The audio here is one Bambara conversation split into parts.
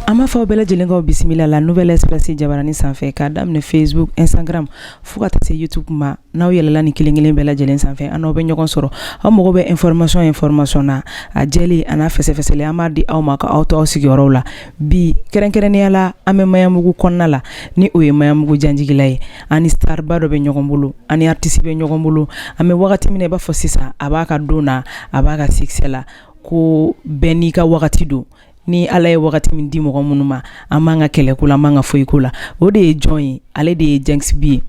An b'aw fo bɛɛ lajɛlen k'aw bisimila la nouvelle espèce jabaranin sanfɛ ka daminɛ Facebook Instagram fo ka taa se YouTube ma n'aw yɛlɛla nin kelenkelen bɛɛ lajɛlen sanfɛ an n'aw bɛ ɲɔgɔn sɔrɔ aw mago bɛ information information na a jɛlen an'a fɛsɛfɛsɛlen an b'a di aw ma ka aw to aw sigiyɔrɔ la bi kɛrɛnkɛrɛnnenya la an bɛ Maɲanbugu kɔnɔna la ni o ye Maɲanbugu Janjigila ye an ni star ba dɔ bɛ ɲɔgɔn bolo an ni artiste bɛ ɲɔgɔn bolo an bɛ wagati min na i b'a fɔ sisan a b'a ka don na a b'a ka succès la ko bɛɛ n'i ka wagati don ni ala ye wagati min di mɔgɔ minnu ma an man kan ka kɛlɛ k'o la an man kan ka foyi k'o la o de ye jɔn ye ale de ye Djinxi B ye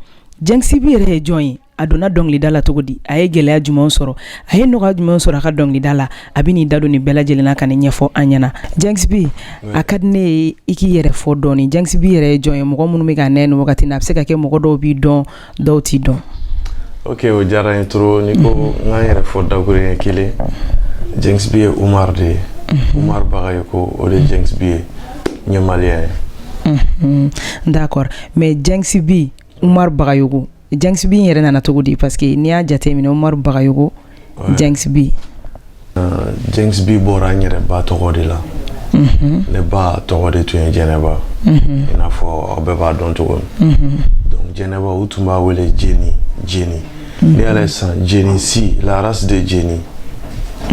Djinxi B yɛrɛ ye jɔn ye a donna dɔnkilida la cogo di a ye gɛlɛya jumɛn sɔrɔ a ye nɔgɔya jumɛn sɔrɔ a ka dɔnkilida la a bɛ n'i da don nin bɛɛ lajɛlen na k'a ɲɛfɔ an ɲɛna Djinxi B a ka di ne ye i k'i yɛrɛ fɔ dɔɔnin Djinxi B yɛrɛ ye jɔn ye mɔgɔ minnu bɛ k'an ye nin wagati na a bɛ se ka kɛ mɔgɔ dɔw b'i dɔn dɔw t'i dɔn ok o diyara n ye trop n'i ko n ka n yɛrɛ fɔ dakuruɲɛ kelen Djinxi B ye Umar de ye Umar Bagayoko o de ye Djinxi B ye n ye malien ye Mhm. d'accord mais Djinxi B Umar Bagayoko Djinxi B in yɛrɛ nana cogo di parce que n'i y'a jateminɛ Umar Bagayoko Djinxi B. Euh, Djinxi B bɔra n yɛrɛ ba tɔgɔ de la. Mhm. Ne ba tɔgɔ de tun ye Jɛnɛba. Mhm. I n'a fɔ aw bɛɛ b'a dɔn cogo min. Mhm. Donc Jɛnɛba u tun b'a wele Jeni Jeni. Ne yɛrɛ san Jeni si la race de Jeni.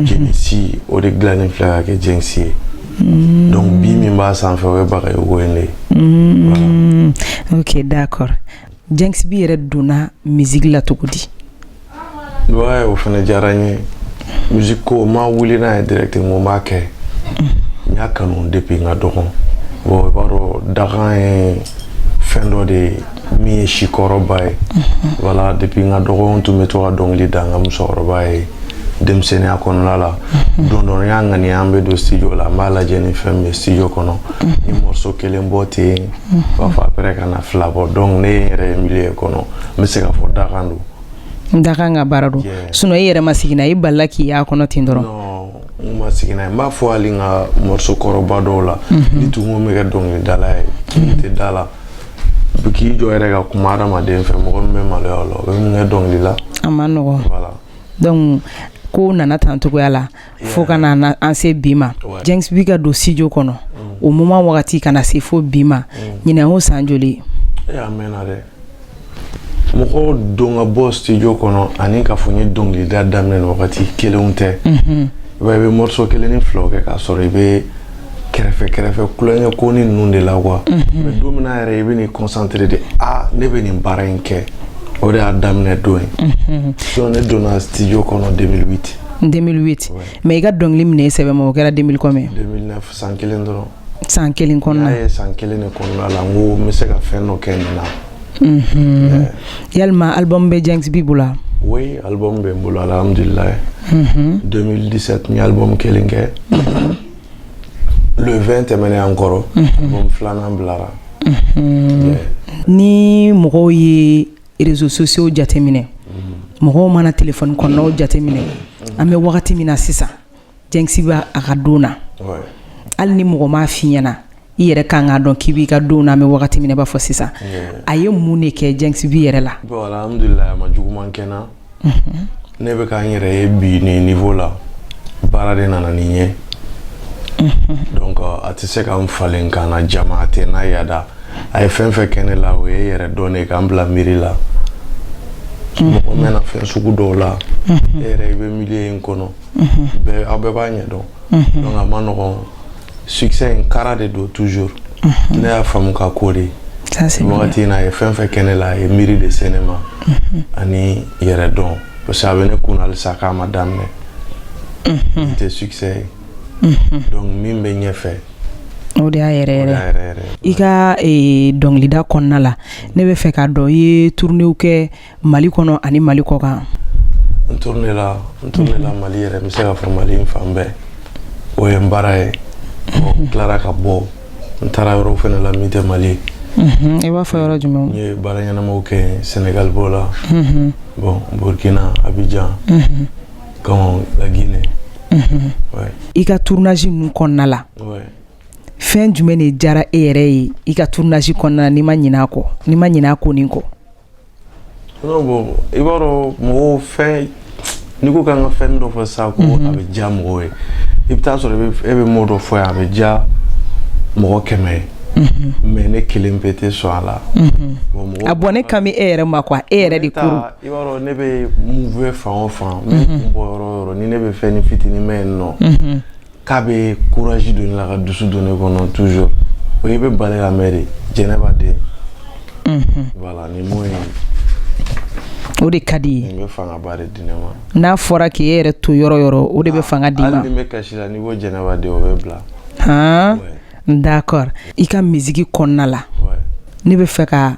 Jeni si o de dilannen filɛ ka kɛ Djinxi ye. Mm. Donc B min b'a sanfɛ o ye Bagayogo in de ye. Mm. Ok d'accord. Djinxi B yɛrɛ donna musique la cogo di? o fana diyara n ye musique ko n ma wuli n'a ye direct n ko n b'a kɛ n y'a kanu depuis n ka dɔgɔn bon i b'a dɔn dakan ye fɛn dɔ de ye min ye secret ba ye voilà depuis n ka dɔgɔn n tun bɛ to ka dɔnkili da n ka musokɔrɔba ye denmisɛnninya kɔnɔna la don dɔ n y'a ŋaniya an bɛ don studio la n b'a lajɛ ni fɛn bɛ studio kɔnɔ n ye morceau kelen bɔ ten n b'a fɔ après ka na fila bɔ donc ne ye n yɛrɛ ye milieu kɔnɔ n bɛ se k'a fɔ dakan don n dakan ka baara don sinon i yɛrɛ ma sigi n'a ye i balala k'i y'a kɔnɔ ten dɔrɔn n ma sigi n'a ye n b'a fɔ hali n ka morceau kɔrɔba dɔw la n'i tun ko n bɛ kɛ dɔnkilidala ye n tɛ da a la k'i jɔ yɛrɛ ka kuma hadamaden fɛ mɔgɔ min bɛ maloya o la o bɛ mun kɛ dɔnkili la a ma nɔgɔ donc ko nana tan cogoya la fo ka na an se bi ma Djinxi B ka don studio kɔnɔ o muma wagati kana na se fo bi ma ɲinan o san joli mɔgɔ don ka bɔ studio kɔnɔ ani k'a fɔ n ye dɔnkilida daminɛ nin wagati kelenw tɛ mhm. i b'a i bɛ morceau kelen ni filaw kɛ k'a sɔrɔ i bɛ kɛrɛfɛ kɛrɛfɛ kulonkɛ ko ni ninnu de la quoi mhm. mais don min na yɛrɛ i bɛ n'i concentré de ah ne bɛ nin baara in kɛ o de y'a daminɛ don ye mhm. donc ne donna studio kɔnɔ 2008 2008 mais i ka dɔnkili minɛ i sɛbɛ ma o kɛra 2000 combien 2009 san kelen dɔrɔn san kelen kɔnɔna ye san kelen de kɔnɔna la n ko n bɛ se ka fɛn dɔ kɛ nin na mhm. yalima album bɛ Djinxi B bolo wa oui album bɛ n bolo alhamdulilayi 2017 mhm. n ye album kelen kɛ mhm. le 20 tɛmɛnen an kɔrɔ album filanan bilara ni mɔgɔw ye réseaux sociaux jateminɛ mɔgɔw mana téléphone kɔnɔnaw jateminɛ an bɛ wagati min na sisan Djinxi B a ka don na hali ni mɔgɔ m'a f'i ɲɛna i yɛrɛ ka kan k'a dɔn k'i b'i ka don na an bɛ wagati min na i b'a fɔ sisan a ye mun de kɛ Djinxi B yɛrɛ la bon alhamdulilayi a ma juguman kɛ n na ne bɛ ka n yɛrɛ ye bi nin niveau la baara de nana ni n ye donc a tɛ se ka n falen ka na jama a tɛ n'a yada a ye fɛn fɛn kɛ ne la o ye yɛrɛ dɔn de ka n bila miiri la mɔgɔ mɛn fɛn sugu dɔw la e yɛrɛ i bɛ milieu in kɔnɔ aw bɛɛ b'a ɲɛ dɔn donc a ma nɔgɔn succès in kara de don toujours ne y'a faamu ka ko de wagati in na a ye fɛn fɛn kɛ ne la a ye miiri de se ne ma ani yɛrɛ dɔn parce que a bɛ ne kun na halisa k'a ma daminɛ n tɛ succès ye donc min bɛ ɲɛfɛ o de y'a yɛrɛ yɛrɛ i ka dɔnkilida kɔnɔna la ne bɛ fɛ k'a dɔn i ye tournéw kɛ mali kɔnɔ ani mali kɔkan n tournéla mali yɛrɛ n bɛ se k'a fɔ mali fan bɛɛ o ye n baara ye n tilara ka bɔ n taara yɔrɔ fana la min tɛ mali i b'a fɔ yɔrɔ jumɛn n ye baara ɲɛnama kɛ sɛnɛgali b'o la bon burukina abijan laginɛ i ka tournage ninnu kɔnɔna la fɛn jumɛn de diyara e yɛrɛ ye i ka tournage kɔnɔna la n'i ma ɲinɛ a ko nin kɔ i b'a dɔn mɔgɔw fɛn n'i ko k'an ka fɛn dɔ fɔ sa ko mhm. a bɛ diya mɔgɔw ye i bɛ taa sɔrɔ e bɛ mot dɔ fɔ yan a bɛ diya mɔgɔ kɛmɛ ye mhm. mais ne kelen pe tɛ sɔn a la mhm. ah bon ne kan bɛ e yɛrɛ ma quoi e yɛrɛ de ko i b'a dɔn ne bɛ move fan o fan n bɛ kun bɔ yɔrɔ yɔrɔ ni ne bɛ fɛn ni fitinin mɛn yen nɔ k'a bɛ courage don ne la ka dusu don ne kɔnɔ toujours o ye n bɛ bali k'a mɛn de jɛnɛba den voilà nin m'o ye o de ka di n ye nin bɛ fangaba de di ne ma n'a fɔra k'e yɛrɛ to yɔrɔ yɔrɔ o de bɛ fanga di n ma hali ni n bɛ kasi la n'i ko jɛnɛba den o bɛ n bila han d'accord i ka misiki kɔnɔna la ne bɛ fɛ ka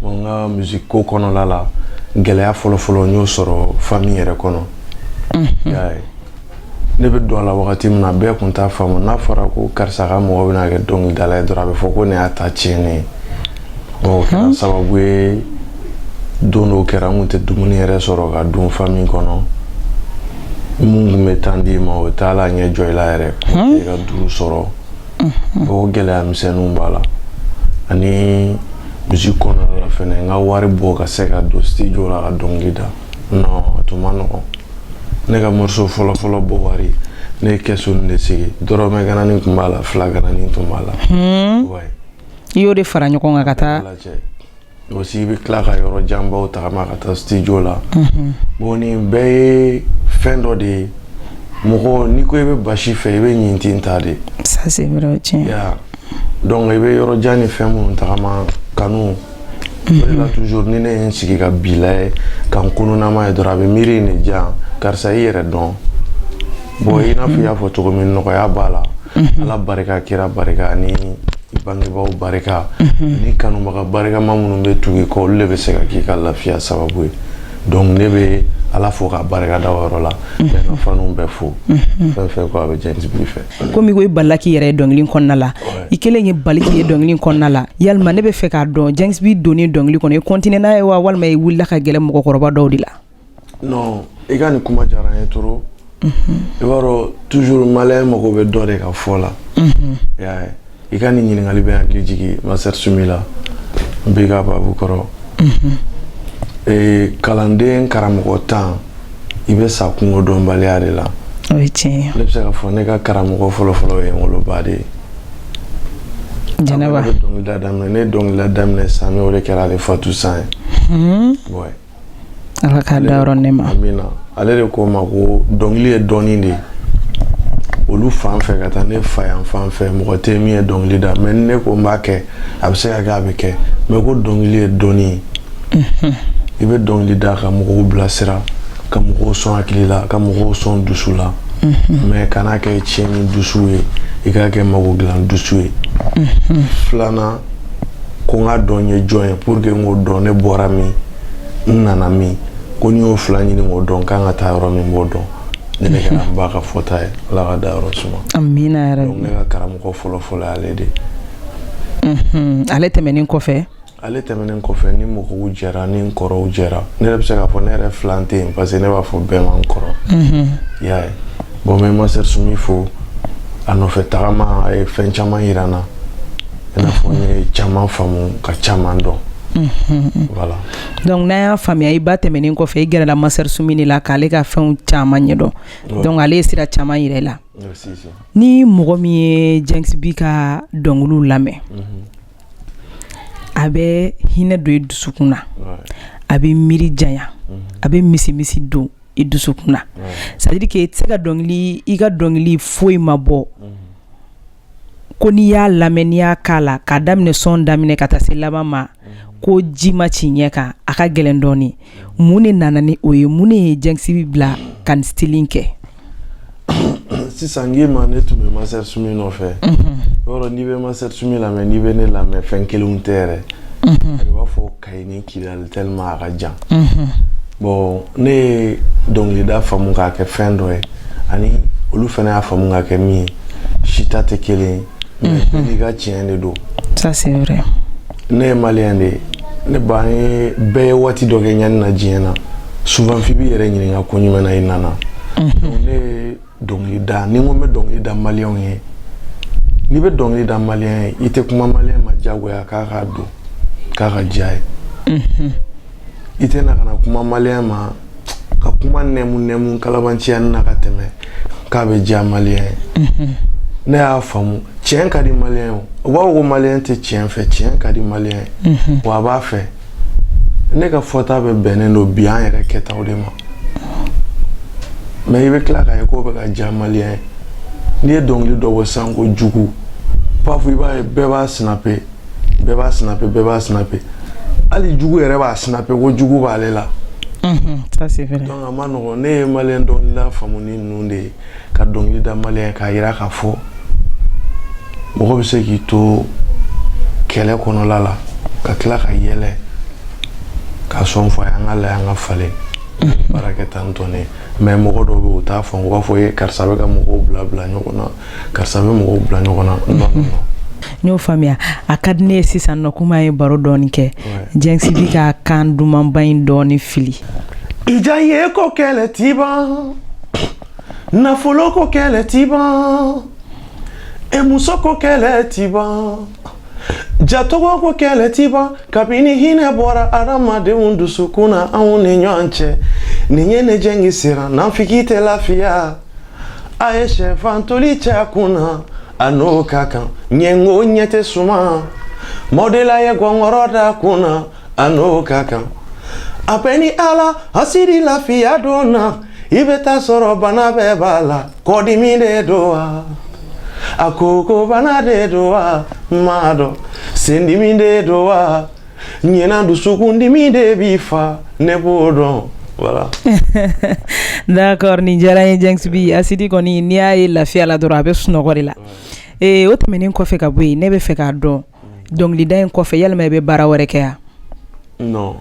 bon n ka musique ko kɔnɔla la gɛlɛya fɔlɔfɔlɔ n y'o sɔrɔ famille yɛrɛ kɔnɔ y'a ye ne bɛ don a la wagati min na bɛɛ tun t'a faamu n'a fɔra ko karisa ka mɔgɔ bɛna kɛ dɔnkilidala ye dɔrɔn a bɛ fɔ ko nin y'a ta tiɲɛnen ye o kɛra sababu ye don dɔw kɛra n tun tɛ dumuni yɛrɛ sɔrɔ ka dun famille kɔnɔ min tun bɛ tan d'i ma o t'a la ɲɛ jɔ i la yɛrɛ i ka duuru sɔrɔ o gɛlɛya misɛnninw b'a la ani musique kɔnɔna la fɛnɛ n ka wari bɔ ka se ka don studio la ka dɔnkili da non a tun man nɔgɔn ne ka morceau fɔlɔfɔlɔ bɔ wari ne ye kɛsunin de sigi dɔrɔmɛ gananin tun b'a la fila gananin tun b'a la i y'o de fara ɲɔgɔn kan ka taa Aussi i bɛ tila ka yɔrɔ janbaw tagama ka taa studio la, unhun, bon nin bɛɛ ye fɛn dɔ de ye mɔgɔ n'i ko i bɛ basi fɛ i bɛ ɲintin ta de, ça c'est vrai o ye tiɲɛ ye, i y'a ye wa donc i bɛ yɔrɔ jan ni fɛn minnu tagama kanu, unhun, o de la toujours ni ne ye n sigi ka bi lajɛ ka n kununnama ye dɔrɔn a bɛ miiri in de di yan karisa i yɛrɛ dɔn bon i n'a fɔ i y'a fɔ cogo min nɔgɔya b'a la, unhun, Ala barika kira barika ani Bangebaaw barika ni kanubaga barikama minnu bɛ tugu i kɔ olu de bɛ se ka k'i ka lafiya sababu ye donc ne bɛ ala fo ka barika da o yɔrɔ la n bɛ n ka faniw bɛɛ fo fɛn fɛn a bɛ James B fɛ kɔmi ko i balila k'i yɛrɛ ye dɔnkili kɔnɔna la i kelen ye bali k'i ye dɔnkili kɔnɔna la yalima ne bɛ fɛ k'a dɔn James B donnen dɔnkili kɔnɔ i continué n'a ye wa walima i wulila ka gɛrɛ mɔgɔkɔrɔba dɔw de la non i ka nin kuma diyara n ye trop i b'a dɔn toujours maliyɛn mago bɛ dɔ de ka fɔ la i y'a ye i ka nin ɲininkali bɛ n hakili jigin Master Soumy la n bɛ ka babu kɔrɔ ee kalanden karamɔgɔntan i bɛ sa kungo dɔnbaliya de la o ye tiɲɛ ye ne bɛ se k'a fɔ ne ka karamɔgɔ fɔlɔfɔlɔ ye n woloba de ye Jɛnɛba ne bɛ dɔnkilida daminɛ ne ye dɔnkilida daminɛ san o de kɛra ale fatu san ye Ouais. ala k'a dayɔrɔ nɛɛma amina ale de ko n ma ko dɔnkili ye dɔnni de ye olu fan fɛ ka taa ne fa yan fan fɛ mɔgɔ tɛ min ye dɔnkili da mais ne ko n b'a kɛ a bɛ se ka kɛ a bɛ kɛ mais ko dɔnkili ye dɔnni ye mhm. i bɛ dɔnkili da ka mɔgɔw bilasira ka mɔgɔw sɔn hakili la ka mɔgɔw sɔn dusu la mhm. mais kan'a kɛ tiɲɛni dusu ye i k'a kɛ mago dilan dusu ye mhm. filanan ko n k'a dɔn n ye jɔn ye pour que n k'o dɔn ne bɔra min n nana min ko ni n y'o fila ɲini k'o dɔn n kan ka taa yɔrɔ min n b'o dɔn nin de kɛra n ba ka fɔta ye ala k'a dayɔrɔ suma amina yɛrɛ ne ka karamɔgɔ fɔlɔ fɔlɔ ale de ale tɛmɛnen kɔfɛ ale tɛmɛnen kɔfɛ ni mɔgɔw jɛra ni n kɔrɔw jɛra ne yɛrɛ bɛ se k'a fɔ ne yɛrɛ filan tɛ yen parce que ne b'a fɔ bɛɛ ma n kɔrɔ mhm. i y'a ye bon n bɛ Master Soumy fo a nɔfɛ tagama a ye fɛn caman yira n na i n'a fɔ n ye caman faamu ka caman dɔn donc n'a y'a faamuya i ba tɛmɛnen kɔfɛ i gɛrɛla Master Soumy de la k'ale ka fɛnw caman ɲɛdɔn donc ale ye sira caman yira i la ni mɔgɔ min ye Djinxi B ka dɔnkili lamɛn a bɛ hinɛ don i dusukun na a bɛ miiri janya a bɛ misi misi don i dusukun na c'est-à-dire que i tɛ se ka dɔnkili i ka dɔnkili foyi ma bɔ ko n'i y'a lamɛn n'i y'a k'a la k'a daminɛ sɔn daminɛ ka taa se laban ma ko ji ma ci ɲɛ kan a ka gɛlɛn dɔɔnin mun de nana ni o ye mun de ye Djinxi B bila ka nin style in kɛ sisan n k'i ma ne tun bɛ Master Soumy nɔfɛ yɔrɔ n'i bɛ Master Soumy lamɛn n'i bɛ ne lamɛn fɛn kelenw tɛ yɛrɛ i b'a fɔ kayi ni kidali tellement a ka jan bon ne ye dɔnkilida faamu k'a kɛ fɛn dɔ ye ani olu fana y'a faamu k'a kɛ min ye sita tɛ kelen ye nka tiɲɛ de don ne ye maliyɛn de ye ne b'a ye bɛɛ ye waati dɔ kɛ ɲani na diɲɛ na souvent i b'i yɛrɛ ɲininka ko mun na i nana dɔnkili da ni n ko n bɛ dɔnkili da maliyɛnw ye n'i bɛ dɔnkili da maliyɛn ye i tɛ kuma maliyɛn ma diyagoya k'a k'a don k'a ka diya ye mhm. i tɛ na ka na kuma maliyɛn ma ka kuma nɛmu nɛmu kalabanciya na ka tɛmɛ k'a bɛ diya maliyɛn ye mhm. ne y'a faamu tiɲɛ ka di maliyɛn ye u b'a fɔ ko maliyɛn tɛ tiɲɛ fɛ tiɲɛ ka di maliyɛn ye mhm. wa a b'a fɛ ne ka fɔta bɛ bɛnnen don bi an yɛrɛ kɛtaw de ma mais i bɛ tila k'a ye k'o bɛ ka diya maliyɛn ye n'i ye dɔnkili dɔ bɔ sisan ko jugu pafu i b'a ye bɛɛ b'a sinape bɛɛ b'a sinape bɛɛ b'a sinape hali jugu yɛrɛ b'a sinape ko jugu b'ale la donc a ma nɔgɔn ne ye maliyɛn dɔnkilida faamu ni ninnu de ye ka dɔnkili da maliyɛn ye k'a yira k'a fɔ mɔgɔ bɛ se k'i to kɛlɛ kɔnɔla la ka tila ka yɛlɛ ka sɔn fɔ a ye an ka layɛ an ka falen baara kɛ tan tɔn ne mais mɔgɔ dɔw bɛ yen u t'a fɔ u b'a fɔ ye karisa bɛ ka mɔgɔw bila bila ɲɔgɔn na karisa bɛ mɔgɔw bila ɲɔgɔn na n y'o faamuya a ka di ne ye sisan nɔ kuma ye baro dɔɔni kɛ Djinxi B ka kan dumanba in dɔɔni fili i diya ye ko kɛlɛ ti ban nafolo ko kɛlɛ ti ban e muso ko kɛlɛ ti ban jatɔgɔ ko kɛlɛ ti ban kabini hinɛ bɔra adamadenw dusukun na anw ni ɲɔgɔn cɛ nin ye ne Djinxi siran nafiki tɛ lafiya a ye sɛfan toli cɛ kun na a n'o ka kan ɲɛngo ɲɛ tɛ suma mɔdela ye gɔngɔrɔ da kun na A n'o ka kan a bɛ ni ala asidi lafiya don na i bɛ taa sɔrɔ bana bɛɛ b'a la kɔdimi de don wa a koko bana de don wa m'a dɔn sendimi de don wa ɲɛna dusukundimi de b'i fa ne b'o dɔn voilà d'accord ni diyara ye Djinxi B asidi kɔni n'i y'a ye lafiya la dɔrɔn a bɛ sunɔgɔ de la ee o tɛmɛnen kɔfɛ ka bɔ yen ne bɛ fɛ k'a dɔn dɔnkilida in kɔfɛ yalima i bɛ baara wɛrɛ kɛ yan non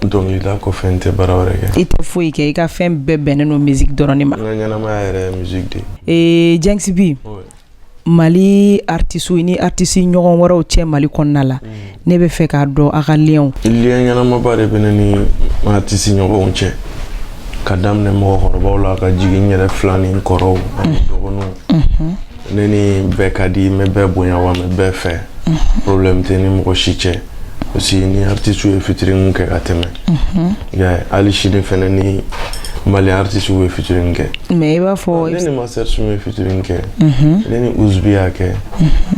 dɔnkilida kɔfɛ n tɛ baara wɛrɛ kɛ i tɛ foyi kɛ i ka fɛn bɛɛ bɛnnen don musique dɔrɔn de ma n ka ɲɛnamaya yɛrɛ ye musique de ye ee Djinxi B mali artiste ni artiste ɲɔgɔn wɛrɛw cɛ mali kɔnɔna la mm. ne bɛ fɛ k'a dɔn a ka lienw lien ɲɛnamaba de bɛ ne ni artiste ɲɔgɔnw cɛ ka daminɛ mɔgɔkɔrɔbaw la ka jigin n yɛrɛ filan ni n kɔrɔw ani mm. dɔgɔninw mm-hmm. ne ni bɛɛ ka di n bɛ bɛɛ bonya wa n bɛ bɛɛ fɛ problème tɛ ni mɔgɔ si cɛ parce que ni artiste ye featuring kɛ ka tɛmɛ i y'a ye hali sini fɛnɛ ni mali artiste bɛ featuring kɛ mais i b'a fɔ ne ni master soumy ye featuring kɛ ne ni uzbi y'a kɛ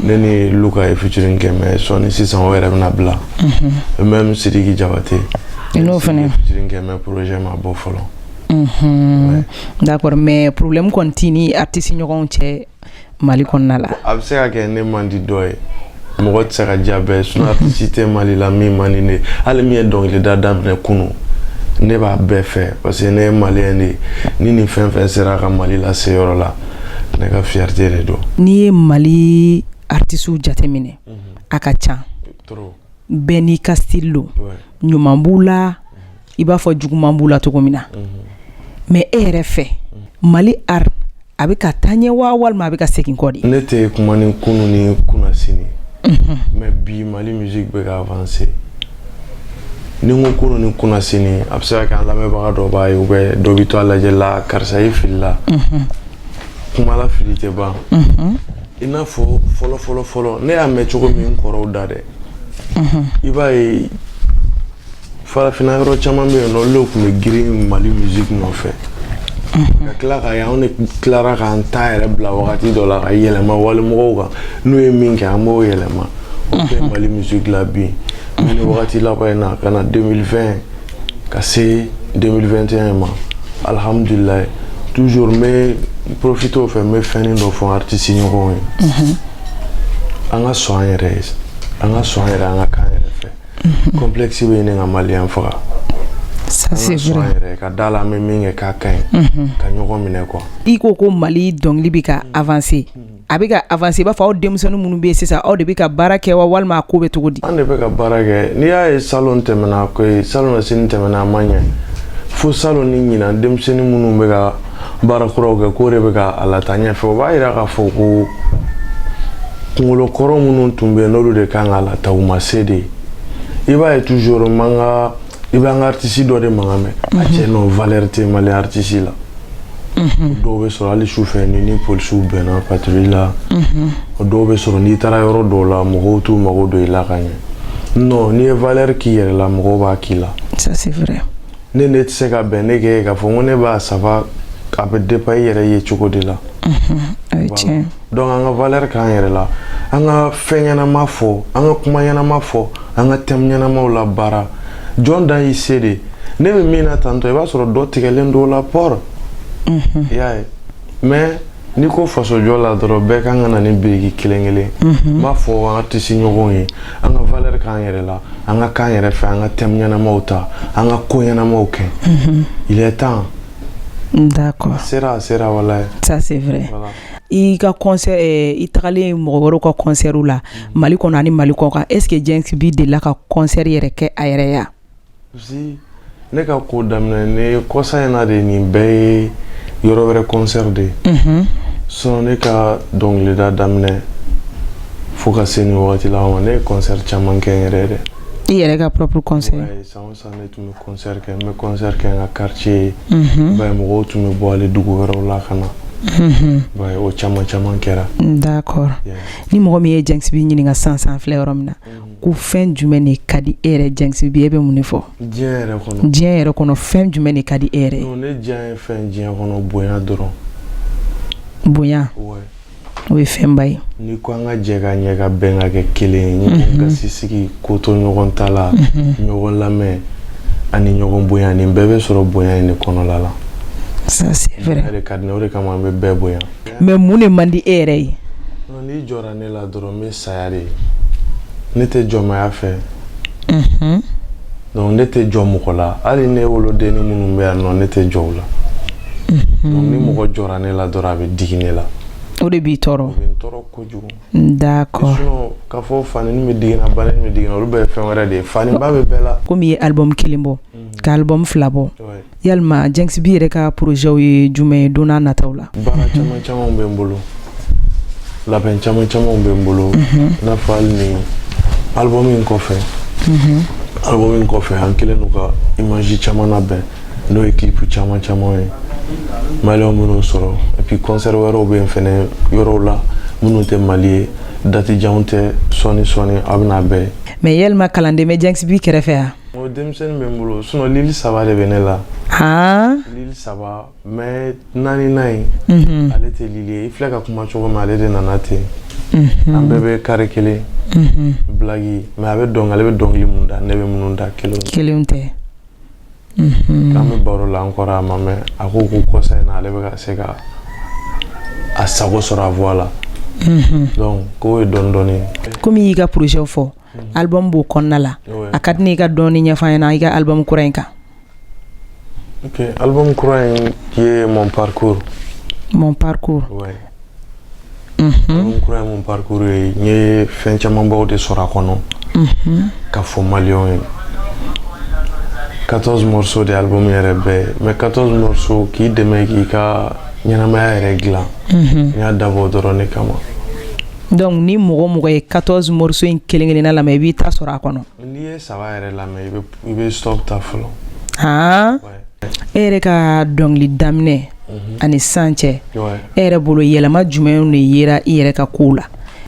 ne ni luka ye featuring kɛ mais sɔni sisan o yɛrɛ bɛna bila même sidiki jabate n n'o fana featuring kɛ mais projet ma bɔ fɔlɔ Unhun d'accord mais problème kɔni t'i ni artiste ɲɔgɔnw cɛ Mali kɔnɔna la, a bɛ se ka kɛ ne man di dɔ ye mɔgɔ tɛ se ka diya bɛɛ ye sinon artiste tɛ Mali la min man di ne ye hali min ye dɔnkilida daminɛ kunun ne b'a bɛɛ fɛ parce que ne ye malien de ye ni nin fɛn fɛn sera ka Mali lase yɔrɔ la ne ka fierté de don. N'i ye Mali artistew jateminɛ a ka ca bɛɛ n'i ka style don ɲuman b'u la i b'a fɔ juguman b'u la cogo min na mais e yɛrɛ fɛ mali art a bɛ ka taa ɲɛ wa walima a bɛ ka segin kɔ de ne tɛ kuma ni kunun ni kunnasini mais bi mali musique bɛ ka avancer ni n ko kunun ni kunnasini a bɛ se ka kɛ an lamɛnbaga dɔ b'a ye ou bien dɔ bɛ to a lajɛ la karisa ye fili la kuma la fili tɛ ban i n'a fɔ fɔlɔfɔlɔfɔlɔ ne y'a mɛn cogo min n kɔrɔw da dɛ i b'a ye farafinna yɔrɔ caman bɛ yen n'olu tun bɛ girin mali musique nɔfɛ mhm. ka tila ka ye anw de tilara k'an ta yɛrɛ bila wagati dɔ la ka yɛlɛma walimɔgɔw kan n'u ye min kɛ an b'o yɛlɛma o bɛɛ mhm. mali musique la bi ni wagati laban in na ka na 2020 ka se 2021 ma alhamdulilayi toujours n bɛ profiter o fɛ n bɛ fɛnnin dɔ fɔ artiste ɲɔgɔnw ye mhm. an ka sɔn an yɛrɛ ye an ka sɔn an yɛrɛ an ka kan yɛrɛ mhm. complexe bɛ ɲini ka maliyɛn faga ça c'est vrai yɛrɛ ka da la an bɛ min kɛ k'a ka ɲi mhm. ka ɲɔgɔn minɛ quoi i ko ko mali dɔnkili bɛ ka avancer a bɛ ka avancer i b'a fɔ aw denmisɛnnin minnu bɛ yen sisan aw de bɛ ka baara kɛ wa walima a ko bɛ cogo di an de bɛ ka baara kɛ n'i y'a ye salon tɛmɛna ko salonnasini tɛmɛna a ma ɲɛ fo salon ni ɲinan denmisɛnnin minnu bɛ ka baara kuraw kɛ k'o de bɛ ka a lataa ɲɛfɛ o b'a yira k'a fɔ ko kungolo kɔrɔ minnu tun bɛ n'olu de kan ka lataa u ma se dɛ i b'a ye toujours n b'an ka i b'an ka artiste dɔ de mankan mɛn a mhm. cɛ non valeur tɛ mali artiste la mhm. dɔw bɛ sɔrɔ hali su fɛ ni ni polisiw bɛnna patrouille la mhm. dɔw bɛ sɔrɔ n'i taara yɔrɔ dɔw la mɔgɔw t'u mago don i la ka ɲɛ non n'i ye valeur k'i yɛrɛ la mɔgɔw b'a k'i la ça c'est vrai ne ne tɛ se ka bɛn ne kɛ k'a fɔ ko ne b'a saba a bɛ dépend i yɛrɛ ye cogo de la donc an ka valeur k'an yɛrɛ la an ka fɛn ɲɛnama fɔ an ka kuma ɲɛnama fɔ an ka thème ɲɛnamaw labaara jɔn dan y'i se de ne bɛ min na tantôt i b'a sɔrɔ dɔ tigɛlen don o la port i y'a ye mais n'i ko fasojɔ la dɔrɔn bɛɛ kan ka na ni biriki kelen kelen n b'a fɔ an ka artiste ɲɔgɔnw ye an ka valeur k'an yɛrɛ la an ka k'an yɛrɛ fɛ an ka thème ɲɛnamaw ta an ka ko ɲɛnamaw kɛ il est temps d'accord sera sera walaye ça c'est vrai voilà. i ka concert eh, i tagalen mɔgɔ wɛrɛw ka concert la mali kɔnɔ ani mali kɔkan est ce que Djinxi B delila ka concert yɛrɛ kɛ a yɛrɛ ya ne ka ko daminɛ ne kɔsa in na de nin bɛɛ ye yɔrɔ wɛrɛ kɔnsɛri de ye mhm. sinon ne ka dɔnkilida daminɛ fo ka se nin wagati la ma ne ye kɔnsɛri caman kɛ n yɛrɛ dɛ i yɛrɛ ka propre kɔnsɛri san o san ne tun bɛ kɔnsɛri kɛ n bɛ kɔnsɛri kɛ n ka quartier ye mhm. ba ye mɔgɔw tun bɛ bɔ hali dugu wɛrɛw la ka na mhm. ba ye o caman caman kɛra d'accord ni mɔgɔ min ye Djinxi B ɲininka sisan an filɛ yɔrɔ min na ko fɛn jumɛn de ka di e yɛrɛ Djinxi B e bɛ mun de fɔ diɲɛ yɛrɛ kɔnɔ fɛn jumɛn de ka di e yɛrɛ non ne diyanye fɛn diɲɛ kɔnɔ bonya dɔrɔn bonya o ye fɛnba ye n'i ko an ka jɛ ka ɲɛ ka bɛn ka kɛ kelen ye mhm. gasi sigi kotoɲɔgɔntala mhm. ɲɔgɔn lamɛn ani ɲɔgɔn bonya nin bɛɛ bɛ sɔrɔ bonya in de kɔnɔla la o de ka di ne o de kama an bɛ bɛɛ bonya mais mun de man di e yɛrɛ ye N'i jɔra ne la dɔrɔn n bɛ saya de ne tɛ jɔnmaya fɛ ne tɛ jɔ mɔgɔ la hali ne wolodennin minnu bɛ yan nɔ ne tɛ jɔ u la donc ni mɔgɔ jɔra ne la dɔrɔn a bɛ digi ne la o de b'i tɔɔrɔ o bɛ n tɔɔrɔ kojugu d'accord sinon k'a fɔ fani min bɛ digi n na bana min bɛ digi n na olu bɛɛ ye fɛn wɛrɛ de ye faniba bɛ bɛɛ la kɔmi i ye album kelen bɔ ka album fila bɔ yalima jɛnkisi bi yɛrɛ ka projetw ye jumɛn ye don nataw la baara caman camanw bɛ n bolo labɛn caman camanw bɛ n bolo i n'a fɔ hali ni album in kɔfɛ album in kɔfɛ an kɛlen don ka image caman labɛn n'o ye clip caman caman ye maliyɛnw minnu sɔrɔ et puis concert wɛrɛw bɛ yen fana yɔrɔw la minnu tɛ mali ye date jan tɛ sɔɔni sɔɔni aw bɛna a bɛɛ ye mais yalima kalanden bɛ jɛnkisi kɛrɛfɛ yan N denmisɛnnin bɛ n bolo sinon lil saba de bɛ ne la lil saba mais naaninan in ale tɛ lil ye i filɛ ka kuma cogo min ale de nana ten an bɛɛ bɛ carré kelen bilaki mais a b'a dɔn ale bɛ dɔnkili minnu da ne bɛ minnu da kelen kelen tɛ an bɛ baro la encore a ma mɛn a ko ko kɔsa in na ale bɛ se ka a sago sɔrɔ a voix la donc o ye dɔɔni kɔmi i y'i ka projet fɔ album b'o kɔnɔna la oui a ka di ne ye i k'a dɔɔni ɲɛfɔ an ɲɛna i ka album kura in kan ok album kura in ye mon parcours mon parcours ouais unhun album kura ye mon parcours ye n ye fɛn camanbaw de sɔrɔ a kɔnɔ unhun ka fɔ maliyɛnw ye 14 morceaux de album yɛrɛ bɛɛ mais 14 morceaux k'i dɛmɛ k'i ka ɲɛnamaya yɛrɛ dilan unhun n y'a dabɔ o dɔrɔn de kama Donc ni mɔgɔ mɔgɔ ye 14 morceaux in kelen kelen na lamɛn i b'i ta sɔrɔ a kɔnɔ e yɛrɛ ka dɔnkili daminɛ ani sisan cɛ e yɛrɛ bolo yɛlɛma jumɛn de yera i yɛrɛ ka kow la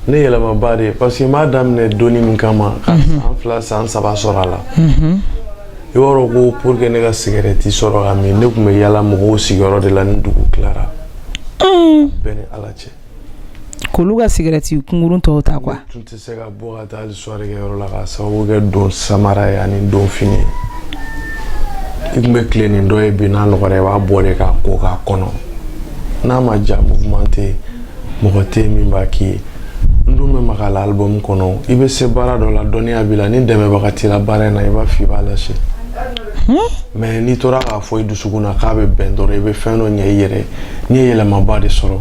ne yɛlɛmaba de parce que n b'a daminɛ don min kama ka san fila san saba sɔrɔ a la i b'a dɔn ko pour que ne ka cigarette sɔrɔ ka min ne tun bɛ yala mɔgɔw sigiyɔrɔ de la ni dugu tilara bɛɛ ni ala cɛ k'olu ka cigarette kunkurun tɔw ta quoi ne tun tɛ se ka bɔ ka taa soirée kɛyɔrɔ la ka sababu kɛ don samara ye ani donfini ye i tun bɛ tilen ni dɔ ye bi n'a nɔgɔra i b'a bɔ de k'a ko k'a kɔnɔ n'a ma ja mouvement tɛ yen mɔgɔ tɛ yen min b'a k'i ye n dun bɛ maga la album kɔnɔ i bɛ se baara dɔ la dɔnniya b'i la ni dɛmɛbaga t'i la baara in na i b'a fɔ i b'a lase mais n'i tora k'a fɔ i dusukun na k'a bɛ bɛn dɔrɔn i bɛ fɛn dɔ ɲɛ i yɛrɛ n ye yɛlɛmaba de sɔrɔ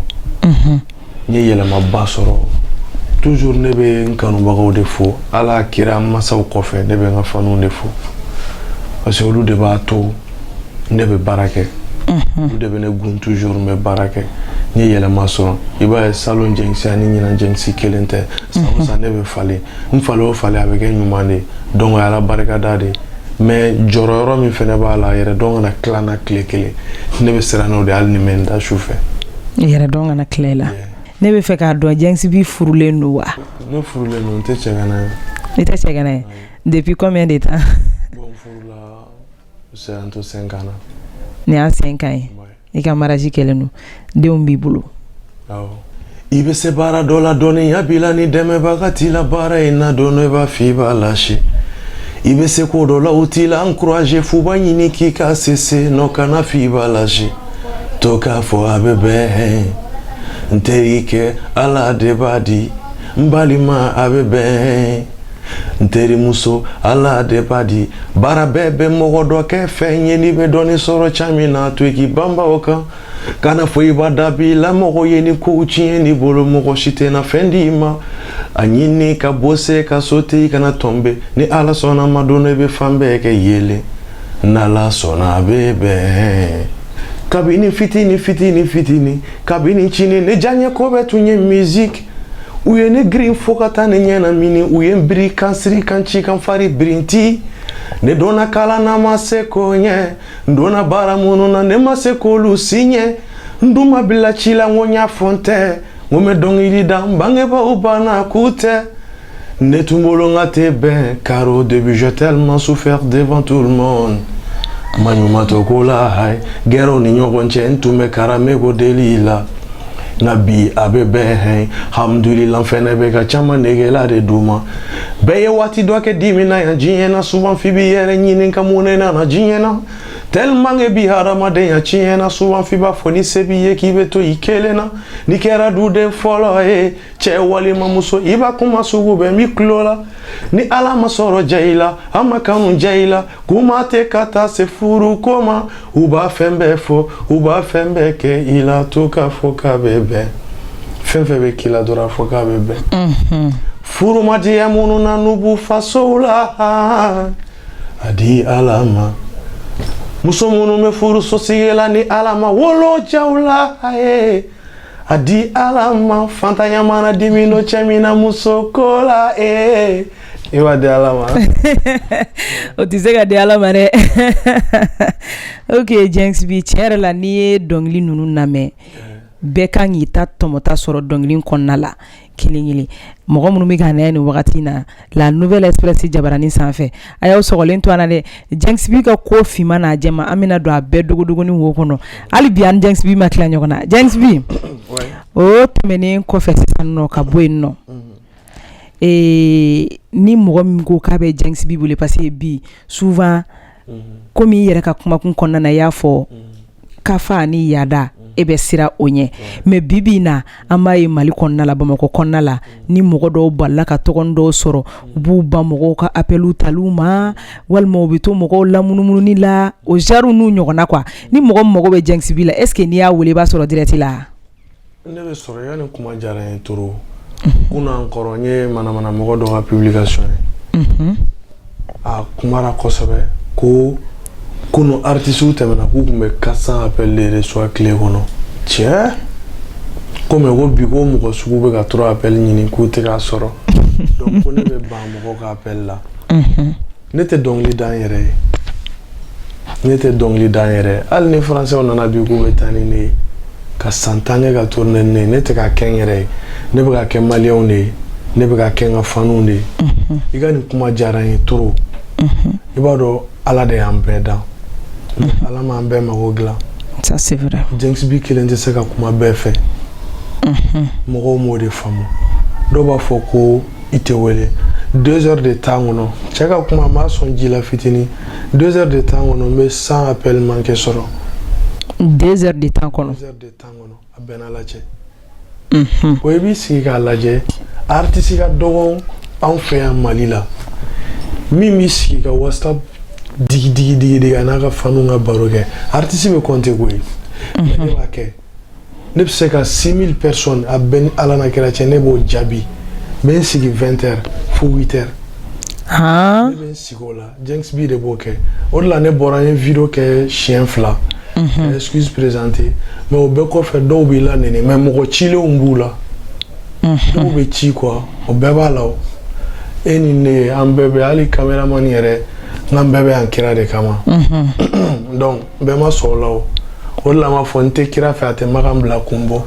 n ye yɛlɛmaba sɔrɔ tuzur ne bɛ n kanubagaw de fo ala kira masaw kɔfɛ ne bɛ n ka fanw de fo parce que olu de b'a to ne bɛ baara kɛ olu de bɛ ne gun tuzur n bɛ baara kɛ n ye yɛlɛma sɔrɔ i b'a ye salon jɛnkisi ani ɲinan jɛnkisi kelen tɛ san o san ne bɛ falen n falen o falen a bɛ kɛ ɲuman de ye donc o ye ala barikada de ye mais jɔrɔ yɔrɔ min fɛnɛ b'a la yɛrɛdɔn kana tila n na tile kelen ne bɛ siran n'o de hali ni n bɛ n da su fɛ yɛrɛdɔn kana tila i la ne bɛ fɛ k'a dɔn Djinxi B furulen don wa ne furulen don n tɛ cɛgana ye i tɛ cɛgana ye depuis combien de temps bon furula c'est un to cinq ans na nin y'a cinq ans ye i ka mariage kɛlen don denw b'i bolo i bɛ se baara dɔ la dɔnniya b'i la ni dɛmɛbaga t'i la baara in na don dɔ i b'a fɔ i b'a lâcher i bɛ se ko dɔ la u t'i la encourager f'u b'a ɲini k'i ka cesser non kana fɔ i b'a lâcher to k'a fɔ a bɛ bɛn hɛn n terikɛ ala de b'a di n balima a bɛ bɛn n terimuso ala de b'a di baara bɛɛ bɛ mɔgɔ dɔ kɛ fɛn ye n'i bɛ dɔɔnin sɔrɔ ca min na to k'i banba o kan kana fɔ i b'a dabila mɔgɔ ye ni kow tiɲɛn'i bolo mɔgɔ si tɛna fɛn di i ma a ɲini ka bosser ka sauter i kana tomber ni ala sɔnn'a ma don dɔ i bɛ fan bɛɛ kɛ yeelen n'ala sɔnna a bɛ bɛn kabini fitini fitini fitini kabini cini ne diyaɲɛko bɛɛ tun ye miziki u ye ne girin fo ka taa ne ɲɛnamini u ye n biri ka n siri ka n ci ka n fari birinti ne donna kalan na n ma se k'o ɲɛ n donna baara minnu na ne ma se k'olu si ɲɛ n dun ma bila ci la n ko n y'a fɔ n tɛ n ko n bɛ dɔnkili da n bangebaaw banna k'u tɛ Ne tun bolo k'a tɛ bɛn car au début j'ai tellement souffert devant tout le monde maɲumatɔ ko la hayi gɛrɛw ni ɲɔgɔn cɛ n tun bɛ carrément ko deli la nka bi a bɛ bɛn hɛ hamidulila fɛn ne bɛ ka ca degela de don ma bɛɛ ye waati dɔ kɛ dimi na yan diɲɛ na souvent i b'i yɛrɛ ɲininka mun ne nana diɲɛ na tellement que bi hadamadenya tiɲɛna souvent i b'a fɔ ni se b'i ye k'i bɛ to i kelen na n'i kɛra duden fɔlɔ ye cɛ walima muso i b'a kuma sugu bɛɛ mɛn i tulo la ni ala ma sɔrɔ ja i la a ma kanu ja i la kuma tɛ ka taa se furu ko ma u b'a fɛn bɛɛ fɔ u b'a fɛn bɛɛ kɛ i la to k'a fɔ k'a bɛ bɛn fɛn fɛn bɛ k'i la dɔrɔn a fɔ k'a bɛ bɛn furu ma diya minnu na n'u b'u fasow la a di ala ma muso minnu bɛ furu sosigi la ni ala ma wolo ja u la a ye a di ala ma faantanya mana dimi don cɛ min na muso ko la ee i b'a di ala ma o tɛ se ka di ala ma dɛ ok Djinxi B tiɲɛ yɛrɛ la n'i ye dɔnkili ninnu lamɛn bɛɛ ka kan k'i ta tɔmɔta sɔrɔ dɔnkili kɔnɔna la kelenkelen mɔgɔ minnu bɛ ka na ni wagati na la nouvelle express jabaranin sanfɛ a y'aw sogolen to dɛ Djinxi B ka ko finman n'a jɛman an bɛna don a bɛɛ dogodogonin wo kɔnɔ hali bi an Djinxi B ma tila ɲɔgɔn na Djinxi B o tɛmɛnen kɔfɛ sisan ka bɔ yen nɔ ee ni mɔgɔ min ko k'a bɛ Djinxi B bolo parce que bi souvent komi i yɛrɛ ka kumakun kɔnɔna na i y'a fɔ ka fa ni yaada e bɛ siran o ɲɛ mais bibi in na an b'a ye mali kɔnɔna la bamakɔ kɔnɔna la ni mɔgɔ dɔw balila ka tɔgɔ dɔw sɔrɔ u b'u ban mɔgɔw ka appel taliw ma walima u bɛ to mɔgɔw lamunumununi la o genrew n'u ɲɔgɔnna quoi ni mɔgɔ mago bɛ Djinxi B la est-ce que n'i y'a weele i b'a sɔrɔ direct la ne bɛ sɔrɔ i ka nin kuma diyara n ye trop kunun encore n ye manamana mɔgɔ dɔ ka publication ye mhm. a kumara kosɛbɛ ko kunu artisiw tɛmɛna k'u tun bɛ 400 appel de reçoit tile kɔnɔ tiɲɛ ko mais ko bi ko mɔgɔ sugu bɛ ka 3 appel ɲini k'u tɛ k'a sɔrɔ donc ko ne bɛ ban mɔgɔ ka appel la mhm. ne tɛ dɔnkili da n yɛrɛ ye ne tɛ dɔnkili da n yɛrɛ ye hali ni faransɛw nana bi k'u bɛ taa ni ne ye ka san tan kɛ ka tourner ni ne ye ne tɛ ka kɛ n yɛrɛ ye ne bɛ ka kɛ maliyɛnw de ye ne bɛ ka kɛ n ka fanuw de ye i ka nin kuma diyara n ye trop i b'a dɔn ala de y'an bɛɛ dan ala m'an bɛɛ mago dilan ça c'est vrai Djinxi B kelen tɛ se ka kuma bɛɛ fɛ mɔgɔw m'o de faamu dɔw b'a fɔ ko i tɛ wele deux heures de temps kɔnɔ cɛ ka kuma m'a sɔn ji la fitini deux heures de temps kɔnɔ n bɛ cent appels manqués sɔrɔ deux heures de temps kɔnɔ deux heures de temps kɔnɔ a bɛna lajɛ unhun o i b'i sigi k'a lajɛ artiste ka dɔgɔ anw fɛ yan mali la min b'i sigi ka whatsapp digi digi digi digi a n'a ka fanuw ka baro kɛ artiste bɛ compter koyi mais ne b'a kɛ ne bɛ se ka 6000 personnes a bɛ n ni ala n'a kira cɛ ne b'o jaabi n bɛ n sigi 20 heures fo 8 heures haan ne bɛ n sigi o la Djinxi B de b'o kɛ o de la ne bɔra n ye video kɛ siɲɛ fila ka excuse présenter mais o bɛɛ kɔfɛ dɔw b'i la nɛni mais mɔgɔ cilenw b'u la dɔw bɛ ci quoi o bɛɛ b'a la o e ni ne an bɛɛ bɛ hali cameraman yɛrɛ n k'an bɛɛ bɛ yan kira de kama donc bɛɛ ma sɔn o la o o de la n b'a fɔ n tɛ kira fɛ a tɛ makan bila kun bɔ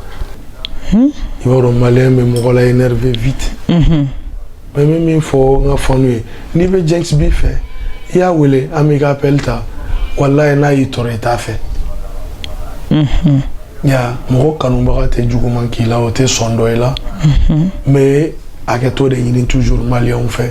hmm? i b'a dɔn maliyɛn bɛ mɔgɔ la énervé vite mhm. mais n bɛ min fɔ n ka fanu ye n'i bɛ Djinxi B fɛ i y'a wele a m'i ka appel ta walayi n'a y'i tɔɔrɔ i t'a fɛ mhm. ya mɔgɔ kanubaga tɛ juguman k'i la o tɛ sɔn dɔ i la n mhm. bɛ hakɛto de ɲini toujours maliyɛnw fɛ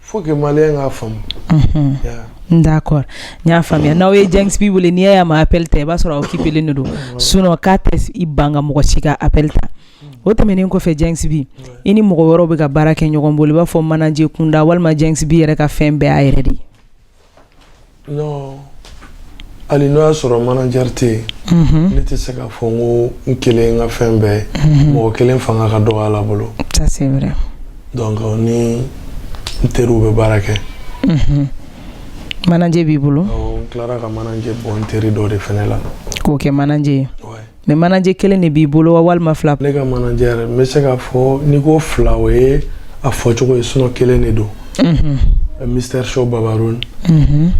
faut que maliyɛn k'a faamu. Unhun. Yeah. D'accord n y'a faamuya n'aw ye Djinxi B wele n'i y'a ye a ma appel ta i b'a sɔrɔ a occupelen de don sinon k'a tɛ s'i ban ka mɔgɔ si ka appel ta o tɛmɛnen kɔfɛ Djinxi B i ni mɔgɔ wɛrɛw bɛ ka baara kɛ ɲɔgɔn bolo i b'a fɔ manager kunda walima Djinxi B yɛrɛ ka fɛn bɛɛ y'a yɛrɛ de ye non hali n'o y'a sɔrɔ manager tɛ yen mhm. ne tɛ se k'a fɔ n ko n kelen n ka fɛn bɛɛ mhm. mɔgɔ kelen fanga ka dɔgɔ ala bolo ça c'est vrai donc euh, ni n teriw bɛ baara kɛ mhm. manager b'i bolo n tilara ka manager bɔ n teri dɔ de fɛnɛ la k'o kɛ manager ye mais manager kelen de b'i bolo wa walima fila ne ka manager yɛrɛ n bɛ se k'a fɔ n'i ko fila o ye a fɔcogo ye sinon kelen de don mr show babarun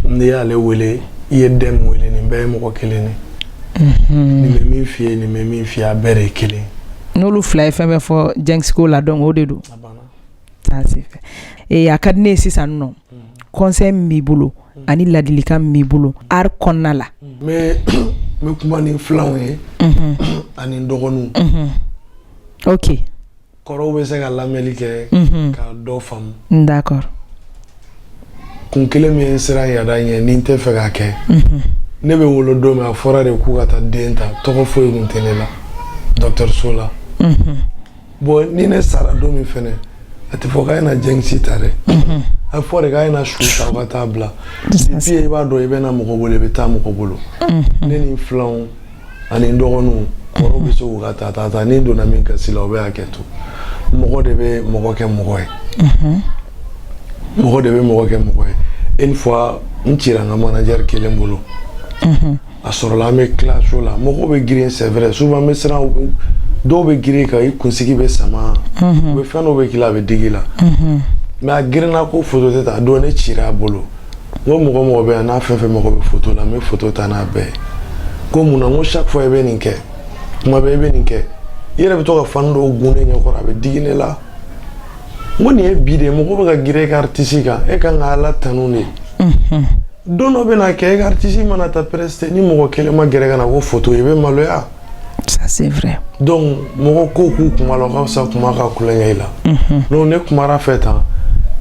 n'i y'ale wele i ye dɛm wele nin bɛɛ ye mɔgɔ kelen de nin bɛ min f'i ye nin bɛ min f'i ye a bɛɛ de ye kelen n'olu fila ye fɛn min fɔ Djinxi ko la donc o de don a ka di ne ye sisan dun conseil min b'i bolo ani laadilikan min b'i bolo art kɔnɔna la n bɛ kuma ni n filanw ye ani dɔgɔninw oke kɔrɔw bɛ se ka lamɛnli kɛ ka dɔ faamu d'accord kun kelen min ye n siran yada ɲɛ ni n t'a fɛ k'a kɛ ne bɛ wolo don min a fɔra de k'u ka taa den ta tɔgɔ foyi kun tɛ ne la dɔgɔtɔrɔso la bon ni ne sara don min fɛnɛ a tɛ fɔ k'a ye na Djinxi ta dɛ mhm. a bɛ fɔ de k'a ye na su ta u ka taa bila puis i b'a dɔn i bɛ na mɔgɔ bolo i bɛ taa mɔgɔ bolo mhm. ne ni n filanw ani n dɔgɔninw kɔrɔw bɛ se k'u ka taa taa taa ni n donna min gasi la o bɛ hakɛ to mɔgɔ de bɛ mɔgɔ kɛ mɔgɔ ye mhm. mɔgɔ de bɛ mɔgɔ kɛ mɔgɔ ye une fois n cira n ka manager kelen bolo a sɔrɔla an bɛ tila show la mɔgɔw bɛ girin c'est vrai souvent n bɛ siran dɔw bɛ girin ka i kunsigi bɛɛ sama u bɛ fɛn dɔw bɛ k'i la a bɛ digi i la mais a girinna ko foto tɛ ta donc ne cira a bolo n ko mɔgɔ o mɔgɔ bɛ yan n'a fɛn fɛn mago bɛ foto la n b'a ta n'a bɛɛ ko mun na n ko chaque fois i bɛ nin kɛ kuma bɛɛ i bɛ nin kɛ i yɛrɛ bɛ to ka fan dɔw gɛn ne ɲɛkɔrɔ a bɛ digi ne la n ko n'i y'a ye bi de mɔgɔ bɛ ka girin e ka artiste kan e ka kan ka ala tanu de don dɔ bɛna kɛ ka artiste mana taa prester ni mɔgɔ kelen ma gɛrɛ ka na ko photo i bɛ maloya ça c'est vrai donc mɔgɔ ko k'u kuma la o ka fisa kuma ka kulonkɛ i la mhm. donc ne kumara fɛ tan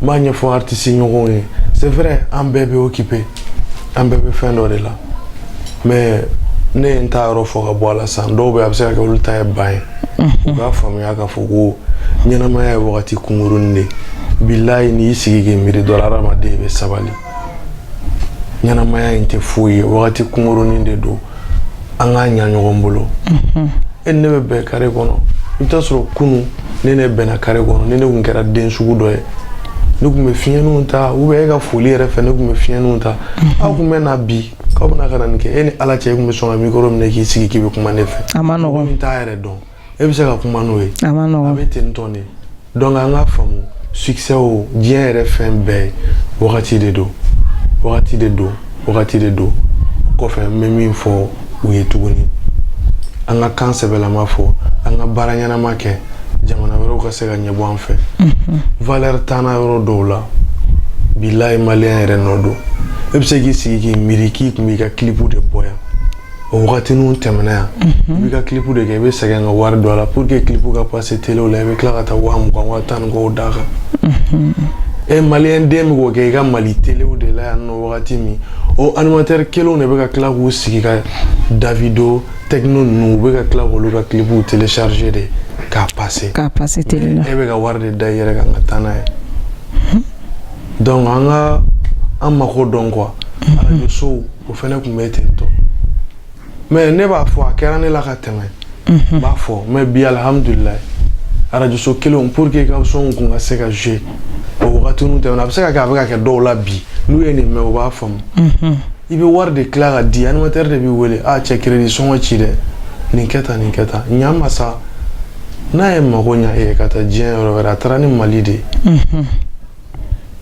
n b'a ɲɛfɔ artiste ɲɔgɔnw ye c'est vrai an bɛɛ bɛ occupé an bɛɛ bɛ fɛn dɔ de la mais ne ye n ta yɔrɔ fɔ ka bɔ a la san dɔw bɛ a bɛ se ka kɛ olu ta ye ban ye u k'a faamuya k'a fɔ ko ɲɛnamaya ye wagati kunkurunnin de ye bilayi n'i y'i sigi k'i miiri dɔrɔn hadamaden bɛ sabali ɲɛnamaya in tɛ foyi ye wagati kunkurunin de don an k'a ɲa ɲɔgɔn bolo mhm. e ni ne bɛ bɛn kare kɔnɔ i bɛ taa sɔrɔ kunu ne ne bɛnna kare kɔnɔ ni ne tun kɛra den sugu dɔ ye ne tun bɛ fiɲɛninw ta ou bien e ka foli yɛrɛ fɛ ne tun bɛ fiɲɛninw ta mhm. aw tun bɛ na bi k'aw bɛna ka na nin kɛ e ni ala cɛ e tun bɛ sɔn ka mikoro minɛ k'i sigi k'i bɛ kuma ne fɛ a man nɔgɔn n t'a yɛrɛ dɔn e bɛ se ka kuma n'o ye a man nɔgɔn a bɛ ten tɔn de donc an k'a faamu succès o diɲɛ yɛrɛ fɛn bɛɛ ye wagati de don wagati de don wagati de don kɔfɛ n bɛ min fɔ u ye tuguni an ka kan sɛbɛlama fɔ an ka baara ɲɛnama kɛ jamana wɛrɛw ka se ka ɲɛbɔ an fɛ mhm. valeur t'an yɔrɔ dɔw la bilayi maliyɛn yɛrɛ nɔ don e bɛ se k'i sigi k'i miiri k'i tun b'i ka kilipu de bɔ yan o wagati ninnu tɛmɛna yan i b'i ka kilipu de kɛ i bɛ sɛgɛn ka wari don a la pour que kilipu ka pase telew la i bɛ tila ka taa waa mugan waa tan ni kɔw d'a kan e maliyɛn den bɛ k'o kɛ i ka mali telew de la yan nɔ wagati min o animatɛri kelenw de bɛ ka tila k'u sigi ka davido tekno ninnu u bɛ ka tila k'olu ka kilipuw telecharge de k'a pase k'a pase tele la e bɛ ka wari de da i yɛrɛ kan ka taa n'a ye donc an ka an mako dɔn quoi arajo sow o fana tun bɛ ten tɔ mais ne b'a fɔ a kɛra ne la ka tɛmɛ n b'a fɔ mais bi alihamdulila arajoso kelenw pour que ka son kun ka se ka jouer o wagati tɛmɛna a bɛ se ka a bɛ ka kɛ dɔw la bi n'u ye nin mɛ u b'a faamu i bɛ wari de tila k'a di animatɛri de b'i wele cɛ kiredi sɔngɔ ci dɛ nin kɛ taa nin kɛ taa ɲa ma sa n'a ye mago ɲɛ e ka taa diɲɛ yɔrɔ wɛrɛ a taara ni mali de ye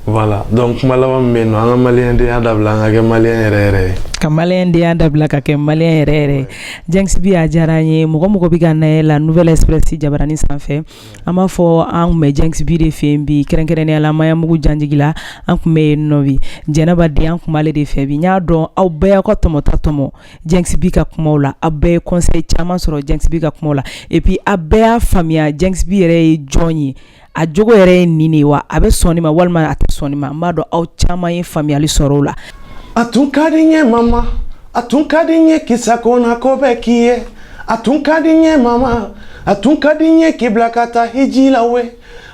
Voilà donc kuma laban bɛ yen an ka malidenya dabila an ka kɛ maliyɛn yɛrɛ yɛrɛ ye ka malidenya dabila ka kɛ maliyɛn yɛrɛ yɛrɛ djinxi b a diyara n ye mɔgɔ mɔgɔ bɛ ka an lajɛ nouvelle express jabaranin sanfɛ an b'a fɔ an bɛ djinxi b de fɛ bi kɛrɛnkɛrɛnnenya la maɲanbugu janjigi la an tun bɛ yen nɔ jɛnɛba de an tun b'ale de fɛ bi n y'a dɔn aw bɛɛ y'aw ka tɔmɔta tɔmɔ djinxi b ka kuma la aw bɛɛ ye conseil caman sɔrɔ djinxi b ka kuma la et puis aw bɛɛ y'a faamuya djinxi b yɛrɛ ye jɔn ye a jogo yɛrɛ ye nin de ye wa a bɛ sɔn nin ma walima a tɛ sɔn nin ma n b'a dɔn aw caman ye faamuyali sɔrɔ o la a tun ka di n ye mama a tun ka di n ye k'i sagona ko bɛɛ k'i ye a tun ka di n ye mama a tun ka di n ye k'i bila ka taa hiji la we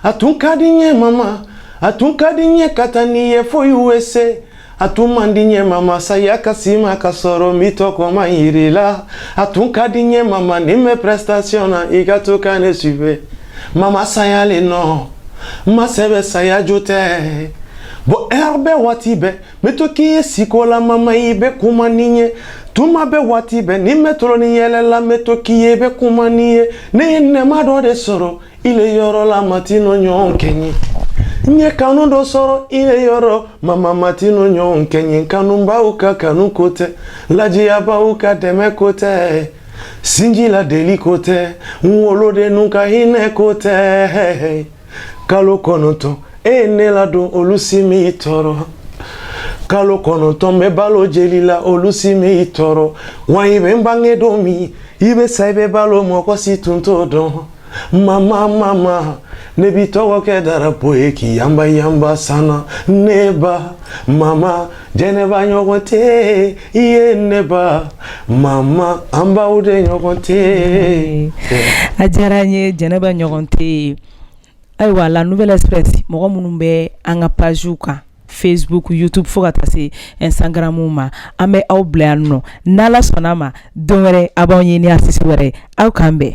a tun ka di n ye mama a tun ka di n ye ka taa n'i ye fo USA A tun man di n ye mama saya ka se i ma k'a sɔrɔ n m'i tɔgɔma jira i la a tun ka di n ye mama ni n bɛ prestation na i ka to ka ne suivre mama saya le nɔ maa sɛbɛ saya jo tɛ bɔ ɛri bɛɛ waati bɛɛ n bɛ to k'i ye siko la mama i bɛ kuma ni n ye tuma bɛɛ waati bɛɛ ni n bɛ tulon ni yɛlɛ la n bɛ to k'i ye i bɛ kuma ni n ye ne ye nɛɛma dɔ de sɔrɔ ile yɔrɔ la maa tɛ n'o ɲɔgɔn kɛ n ye n ye kanu dɔ sɔrɔ ile yɔrɔ mama maa tɛ n'o ɲɔgɔn kɛ n ye kanubaw ka kanu ko tɛ ladiyabaw ka dɛmɛ ko tɛ sinji la deli ko tɛ n wolodenninw ka hinɛ ko tɛ kalo kɔnɔntɔn e ye ne ladon olu si m'i tɔɔrɔ kalo kɔnɔntɔn n bɛ balo jeli la olu si m'i tɔɔrɔ wa i bɛ n bange don min i bɛ sa i bɛ balo mɔgɔ si tun t'o dɔn mama mama ne b'i tɔgɔ kɛ darapo ye k'i yanba yanba san na ne ba mama jɛnɛba ɲɔgɔn tɛ i ye ne ba mama an baw de ɲɔgɔn tɛ a diyara n ye jɛnɛba ɲɔgɔn tɛ ye ayiwa la nouvelle express mɔgɔ minnu bɛ an ka pages kan facebook youtube fo ka taa se instagram ma an bɛ aw bila yan nɔ n'ala sɔnna ma don wɛrɛ a b'an ye ni artiste wɛrɛ aw k'an bɛn